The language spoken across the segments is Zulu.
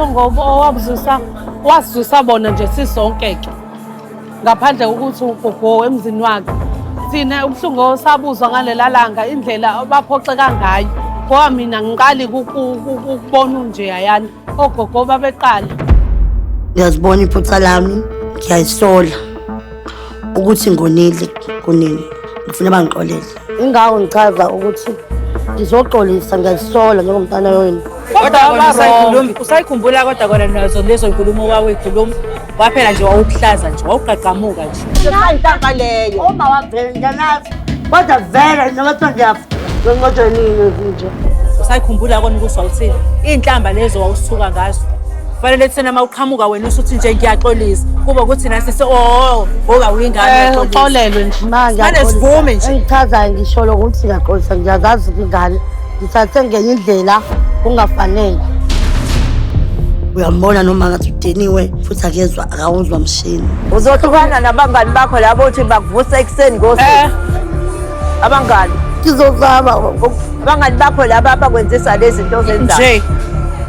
ngoba owabuzusa wasizusa bona nje sisonke ke ngaphandle kokuthi ugogo emzini wakhe thina ubuhlungu osabuzwa ngalela langa indlela baphoxeka ngayo ngoba mina ngiqali ukubona unje yayani ogogo babeqala ngiyazibona iphutha lami ngiyayisola ukuthi ngonile kunini ngifuna bangixolele Ingawo ngichaza ukuthi ngizoxolisa ngiyazisola njengomntana wenu. Kodwa kona usayikhuluma, usayikhumbula kodwa kona nazo lezo nkulumo wawekhuluma. Waphela nje wawukuhlaza nje, wawugqagqamuka nje. Intaba leyo. Uma wavela ngiyanazi. Kodwa vele noma kuthiwa ngiyafa. Ngonqotshwa nini nje? Usayikhumbula kona ukuthi wawuthini? Iy'nhlamba lezo wawusuka ngazo. kufanele kuthena uma uqhamuka wena usho ukuthi nje ngiyaxolisa kuba ukuthi nasi se oh ngoba oh, uyingane eh, uxolelwe nje manje manje sivume nje engichazayo ngisho lokho ukuthi ngiyaxolisa ngiyazazi ingane ngithathe ngenye indlela kungafanele uyambona noma ngathi udeniwe futhi akezwa akawuzwa mshini uzohlukana nabangani bakho labo uthi bakuvusa ekuseni ngosuku eh. abangani ngizozama abangani bakho laba abakwenzisa lezi zinto ozenzayo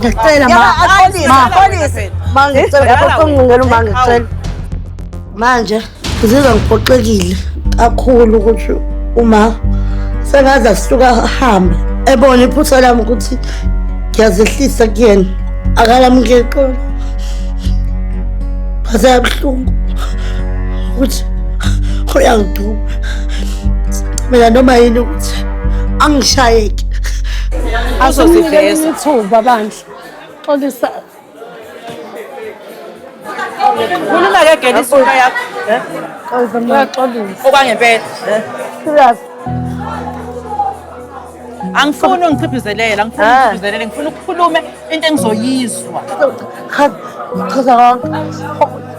Ngicela ma. Ma. Ma ngicela ngaphoxa ngingena uma ngicela. Manje ngizizwa ngiphoxekile kakhulu ukuthi uma sengaze asuka hamba ebona iphutha lami ukuthi ngiyazehlisa kuyena akalamukeli xolo baseyabuhlungu ukuthi uyangiduba mina noma yini ukuthi angishayeki azoziveza ithuba bandla xolisa Khuluma ke gela isuka yakho. Eh? Uyaxolisa. Okwangempela. Eh? Serious. Angifuni ungiciphizelele, angifuni ah. ungiciphizelele, ngifuna ukukhulume into engizoyizwa. Cha, cha, cha.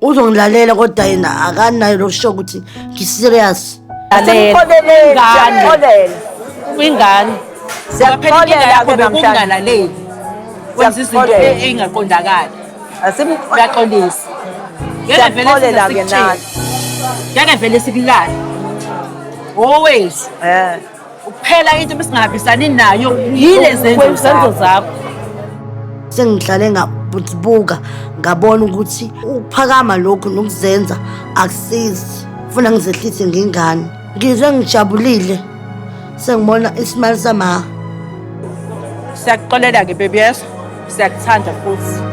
uzongilalela kodwa yena akanayo lokusho ukuthi ngi-serious kwingane kungalaleli wenza izinto eyingaqondakali uyaxolisa ngeke vele sikulale always eh. Kuphela into besingahambisani nayo yile zenzo zakho. zakho. Sengihlale ngabuka ngabona ukuthi ukuphakama lokhu nokuzenza akusizi. Funa ngizehlise ngengane. Ngizwe ngijabulile sengibona isimali sama. Siyakuxolela ke baby yes. Siyakuthanda futhi.